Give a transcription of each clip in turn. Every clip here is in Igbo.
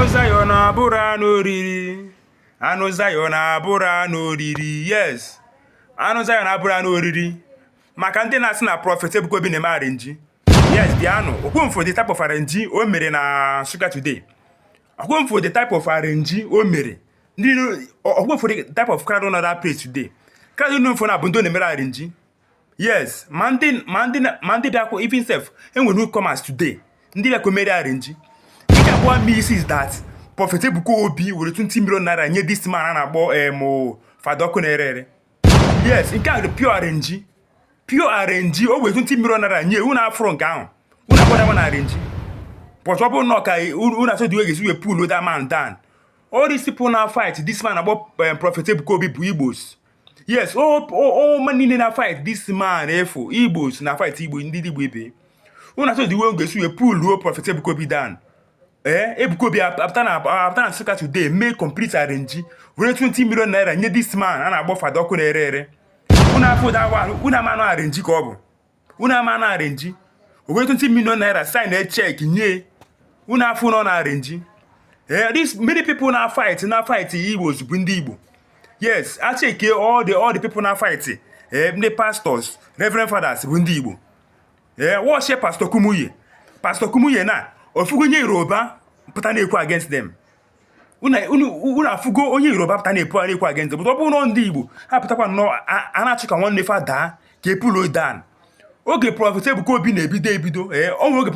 anụ Zion abụrọ anụ oriri anụ Zion abụrọ anụ oriri yes anụ Zion abụrọ anụ oriri maka ndị na-asị na prọfet Ebuka Obi na-eme arinji yes bịanụ ka unu fụ the type of arinji o mere na Nsụka today ka unu fụ the type of arinji o mere ndị ka unu fụ the type of crowd nọ that place today crowd nọ na-abụ ndị na-emere arinji yes ma ndị ma ndị ma ndị bịakwa even sef enwere newcomers today ndị bịakwa mere arenji ị ga-agwa m is that Prophet Ebuka Obi were 20 million naira nye this man a na-akpọ em eh, Fada Ọkụ na-ere ere yes nke a dị pure arenji pure arenji o were 20 million naira nye unu afụ nke ahụ unu agbadawa na arenji but ọ bụrụ na ọ ka unu achọ the way ga-esi wee pull that man down all these people na fight this man akpọ eh, Prophet Ebuka Obi bụ Igbos yes unu niile na fight this man ị fụ igbos na fight igbo ndị igbo ibe unu na-achọ the way unu ga-esi wee pulluo prọfet Ebuka Obi down ee eh, Ebuka Obi apụta na apụta na Nsụka today mee complete arrange were 20 million naira nye this man a na-akpọ fada ọkụ na-ere ere unu afụ that one unu ama na arenji ka ọ bụ unu ama na arenji o were 20 million naira sign a check nye unu afụ na ọ arenji eh, this many people na fight na fight igbo bụ ndị igbo yes a checkie all the all the people na fight eh, ndị pastors reverend fathers bụ ndị igbo eh, watchie pastor Kumuyi pastor Kumuyi unu afụgo onye yoruba pụta na-ekwu against them unu afụgo onye yoruba pụta na-epu ara ekwu against ya but ọ bụrụ na ndị igbo ha pụtakwa nnọọ a na-achụ ka nwanne fa daa ka a pulluo ya down oge prọfet ebuka obi na-ebido ebido ee ọnwa oge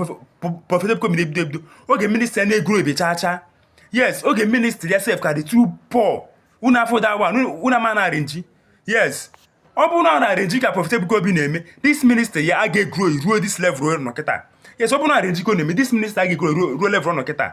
prọfet ebuka obi na-ebido ebido oge ministry ya egrowbe chaa chaa yes oge ministry ya sef ka dị too poor unu afụ that one unu ama na arinji yes ọ bụrụ na ọ arinji ka prọfet ebuka obi na-eme this ministry ya a ga-egrow ruo this level ọ nọ kịta yes ọ bụrụ na arinji ka ọ na-eme this ministry a ga-egrow ruo level ọ nọ kịta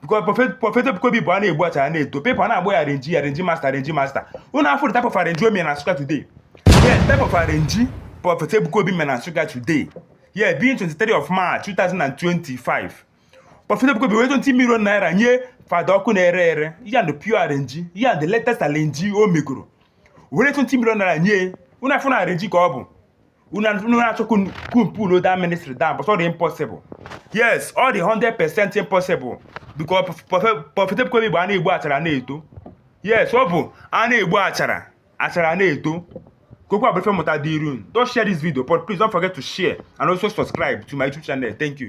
because prọfet Ebuka Obi bụ a na-egbu achara ọ na-eto people na-akpọ ya arenji arenji masta arenji masta unu afụ type of arenji o mere na Nsụka today yeah type of arenji prọfet Ebuka Obi mere na Nsụka today yeah being 23 of March 2025 prọfet Ebuka Obi were 20 million naira nye fada ọkụ na-ere ere ya na pure arenji ya na the latest arenji o megoro were 20 million naira nye unu afụ na arenji ka ọ bụ unu na-achọ ka unu pulluo the ministry down but ọ dị impossible yes ọ dị 100 percent impossible because prọfet Ebuka Obi bụ a na-egbu achara na-eto yes ọ bụ a na-egbu achara achara na-eto kokwa bụ ife mmụta dị iru don't share this video but please don't forget to share and also subscribe to my YouTube channel thank you